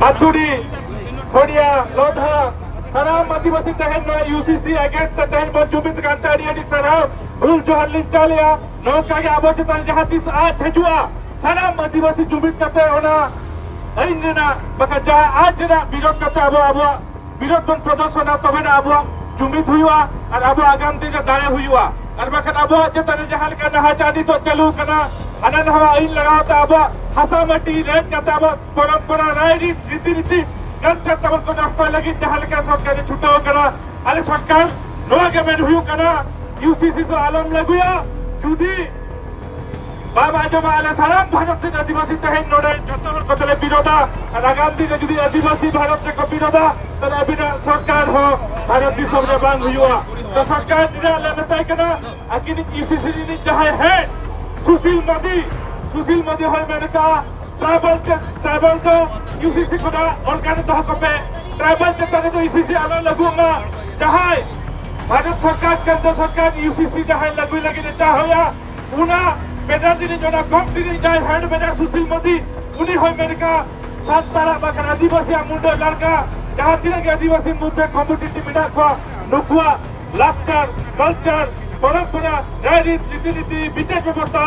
ᱟᱛᱩᱰᱤ ᱦᱚᱲᱤᱭᱟ ᱞᱚᱫᱷᱟ ᱥᱟᱱᱟᱢ ᱟᱹᱫᱤᱵᱟᱹᱥᱤ ᱛᱮᱦᱮᱧ ᱱᱚᱣᱟ ᱭᱩᱥᱤᱥᱤ ᱮᱜᱮᱱᱥᱴ ᱛᱮ ᱛᱮᱦᱮᱧ ᱵᱚᱱ ᱡᱩᱢᱤᱫ ᱠᱟᱱ ᱛᱮ ᱟᱹᱰᱤ ᱟᱹᱰᱤ ᱥᱟᱨᱦᱟᱣ ᱦᱩᱞ ᱡᱚᱦᱟᱨ ᱞᱤᱧ ᱪᱟᱞᱮᱭᱟ ᱱᱚᱝᱠᱟ ᱜᱮ ᱟᱵᱚ ᱪᱮᱛᱟᱱ ᱡᱟᱦᱟᱸ ᱛᱤᱥ ᱟᱸᱪ ᱦᱤᱡᱩᱜᱼᱟ ᱥᱟᱱᱟᱢ ᱟᱹᱫᱤᱵᱟᱹᱥᱤ ᱡᱩᱢᱤᱫ ᱠᱟᱛᱮ ᱚᱱᱟ ᱟᱹᱭᱤᱱ ᱨᱮᱱᱟᱜ ᱵᱟᱠᱷᱟᱱ ᱡᱟᱦᱟᱸ ᱟᱸᱪ ᱨᱮᱱᱟᱜ ᱵᱤᱨᱳᱫ ᱠᱟᱛᱮ ᱟᱵᱚ ᱟᱵᱚᱣᱟᱜ ᱵᱤᱨᱳᱫ ᱵᱚᱱ ᱯᱨᱚᱫᱚᱨᱥᱚᱱᱟ ᱛᱚᱵᱮᱱᱟ ᱟᱵᱚᱣᱟᱜ ᱡᱩᱢᱤᱫ ᱦᱩᱭᱩᱜᱼᱟ ᱟᱨ ᱟᱵᱚ ᱟᱜᱟᱢ ᱫᱤᱱ ᱨᱮ ᱫᱟᱲᱮ ᱦᱩᱭᱩᱜᱼᱟ ᱟᱨ ᱵᱟᱠᱷᱟᱱ ᱟᱵᱚᱣᱟᱜ ᱪᱮᱛᱟᱱ ᱨᱮ ᱡᱟᱦᱟᱸ ᱞᱮᱠᱟ ᱱᱟᱦᱟᱪᱟᱨ ᱱᱤᱛᱚᱜ ᱪᱟᱹᱞᱩ ᱠᱟᱱᱟ ᱦᱟᱱᱟ ᱱᱟᱣᱟ ᱟᱹᱭᱤᱱ ᱞᱟᱜᱟᱣ ᱛᱮ ᱟᱵᱚᱣᱟᱜ ᱦᱟᱥᱟ ᱢᱟᱹᱴᱤ ᱨᱮᱡ ᱠᱟᱛᱮ ᱟᱵᱚᱣᱟᱜ ᱯᱚᱨᱚᱢᱯᱚᱨᱟ ᱨᱟᱭ ᱨᱤᱛ ᱨᱤᱛᱤ ᱱᱤᱛᱤ ᱠᱟᱞᱪᱟᱨ ᱛᱟᱵᱚᱱ ᱠᱚ ᱱᱚᱥᱴᱚᱭ ᱞᱟᱹᱜᱤᱫ ᱡᱟᱦᱟᱸ ᱞᱮᱠᱟ ᱥᱚᱨᱠᱟᱨ ᱮ ᱪᱷᱩᱴᱟᱹᱣ ᱠᱟᱱᱟ ᱟᱞᱮ ᱥᱚᱨᱠᱟᱨ ᱱᱚᱣᱟ ᱜᱮ ᱢᱮᱱ ᱦᱩᱭᱩᱜ ᱠᱟᱱᱟ ᱤᱭᱩᱥᱤᱥᱤ ᱫᱚ ᱟᱞᱚᱢ ᱞᱟᱹᱜᱩᱭᱟ ᱡᱩᱫᱤ ᱵᱟᱵᱟ ᱡᱚᱢᱟ ᱟᱞᱮ ᱥᱟᱱᱟᱢ ᱵᱷᱟᱨᱚᱛ ᱨᱮᱱ ᱟᱹᱫᱤᱵᱟᱹᱥᱤ ᱛᱮᱦᱮᱧ ᱱᱚᱰᱮ ᱡᱚᱛᱚ ᱦᱚᱲ ᱠᱚᱛᱮᱞᱮ ᱵᱤᱨᱳᱫᱟ ᱟᱨ ᱟᱜᱟᱢ ᱫᱤᱱ ᱨᱮ ᱡᱩᱫᱤ ᱟᱹᱫᱤᱵᱟᱹᱥᱤ ᱵᱷᱟᱨᱚᱛ ᱨᱮᱠᱚ ᱵᱤᱨᱳᱫᱟ ᱛᱟᱦᱞᱮ ᱟᱹᱵᱤᱱᱟᱜ ᱥᱚᱨᱠᱟᱨ ᱦᱚᱸ ᱵᱷᱟᱨᱚᱛ ᱫᱤᱥᱚᱢ ᱨᱮ ᱵᱟᱝ ᱦᱩᱭᱩᱜᱼᱟ ᱛᱚ ᱥᱚᱨᱠᱟᱨ ᱨᱮᱱᱟᱜ ᱞᱮ ᱢᱮᱛᱟᱭ ᱠᱟᱱᱟ ᱟᱹᱠᱤᱱᱤᱡ ᱤᱥᱤᱥᱤ ᱨᱤᱱᱤᱡ ᱡᱟᱦᱟᱸᱭ ᱦᱮᱰ ᱥᱩᱥᱤᱞ ᱢᱟᱹᱫᱤ ᱥᱩᱥᱤᱞ ᱢᱟᱹᱫᱤ ᱦᱚᱸᱭ ᱢᱮᱱ ᱠᱟᱜᱼᱟ ᱴᱨᱟᱭᱵᱟᱞ ᱴᱨᱟᱭᱵᱟᱞ ᱫᱚ ᱤᱭᱩᱥᱤᱥᱤ ᱠᱷᱚᱱᱟᱜ ᱚᱞᱠᱟᱨᱮ ᱫᱚᱦᱚ ᱠᱚᱯᱮ ᱴᱨᱟᱭᱵᱟᱞ ᱪᱮᱛᱟᱱ ᱨᱮᱫᱚ ᱤᱭᱩᱥᱤᱥᱤ ᱟᱞᱚ ᱞᱟᱹᱜᱩ ᱢᱟ ᱡᱟᱦᱟᱸᱭ ᱵᱷᱟᱨᱚᱛ ᱥᱚᱨᱠᱟᱨ ᱠᱮᱱᱫᱨᱚ ᱥᱚᱨᱠᱟᱨ ᱤᱭᱩᱥᱤᱥᱤ ᱡᱟᱦᱟᱸᱭ ᱞᱟᱹᱜᱩᱭ ᱞᱟᱹᱜᱤᱫ ᱮ ᱪᱟᱦᱟᱣᱭᱟ ᱚᱱᱟ ᱵᱮᱱᱟᱨ ᱨᱤᱱᱤᱡ ᱚᱱᱟ ᱠᱚᱢ ᱨᱤᱱᱤᱡ ᱡᱟᱦᱟᱸᱭ ᱦᱮᱰ ᱢᱮᱱᱟᱭᱟ ᱥᱩᱥᱤᱞ ᱢᱳᱫᱤ ᱩᱱᱤ ᱦᱚᱸᱭ ᱢᱮᱱ ᱠᱟᱜᱼᱟ ᱥᱟᱱᱛᱟᱲᱟᱜ ᱵᱟᱠᱷᱟᱱ ᱟᱹᱫᱤᱵᱟᱹᱥᱤᱭᱟᱜ ᱢᱩᱱᱰᱟᱹ ᱞᱟᱲᱠᱟ ᱡᱟᱦᱟᱸ ᱛᱤᱱᱟᱹᱜ ᱜᱮ ᱟᱹᱫᱤᱵᱟᱹᱥᱤ ᱢᱩᱫᱽᱨᱮ ᱠᱚᱢᱚᱰᱤᱴᱤ ᱢᱮᱱᱟᱜ ᱠᱚᱣᱟ ᱱᱩᱠᱩᱣᱟᱜ ᱞᱟᱠᱪᱟᱨ ᱠᱟᱞᱪᱟᱨ ᱯᱚᱨᱚᱢᱯᱚᱨᱟ ᱨᱟᱭᱨᱤᱛ ᱨᱤᱛᱤᱱᱤᱛᱤ ᱵᱤᱪᱟᱨ ᱵᱮᱵᱚᱥᱛᱷᱟ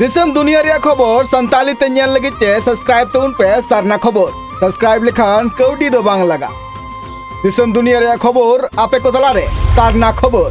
ᱫᱤᱥᱚᱢ ᱫᱩᱱᱤᱭᱟᱹ ᱨᱮᱭᱟᱜ ᱠᱷᱚᱵᱚᱨ ᱥᱟᱱᱛᱟᱞᱤ ᱛᱮ ᱧᱮᱞ ᱞᱟᱹᱜᱤᱫ ᱛᱮ ᱥᱟᱵᱥᱠᱨᱟᱭᱤᱵ ᱛᱟᱵᱚᱱ ᱯᱮ ᱥᱟᱨᱱᱟ ᱠᱷᱚᱵᱚᱨ ᱥᱟᱵᱥᱠᱨᱟᱭᱤᱵ ᱞᱮᱠᱷᱟᱱ ᱠᱟᱹᱣᱰᱤ ᱫᱚ ᱵᱟᱝ ᱞᱟᱜᱟ ᱫᱤᱥᱚᱢ ᱫᱩᱱᱤᱭᱟᱹ ᱨᱮᱭᱟᱜ ᱠᱷᱚᱵᱚᱨ ᱟᱯᱮ ᱠᱚ ᱛᱟᱞᱟᱨᱮ ᱥᱟᱨᱱᱟ ᱠᱷᱚᱵᱚᱨ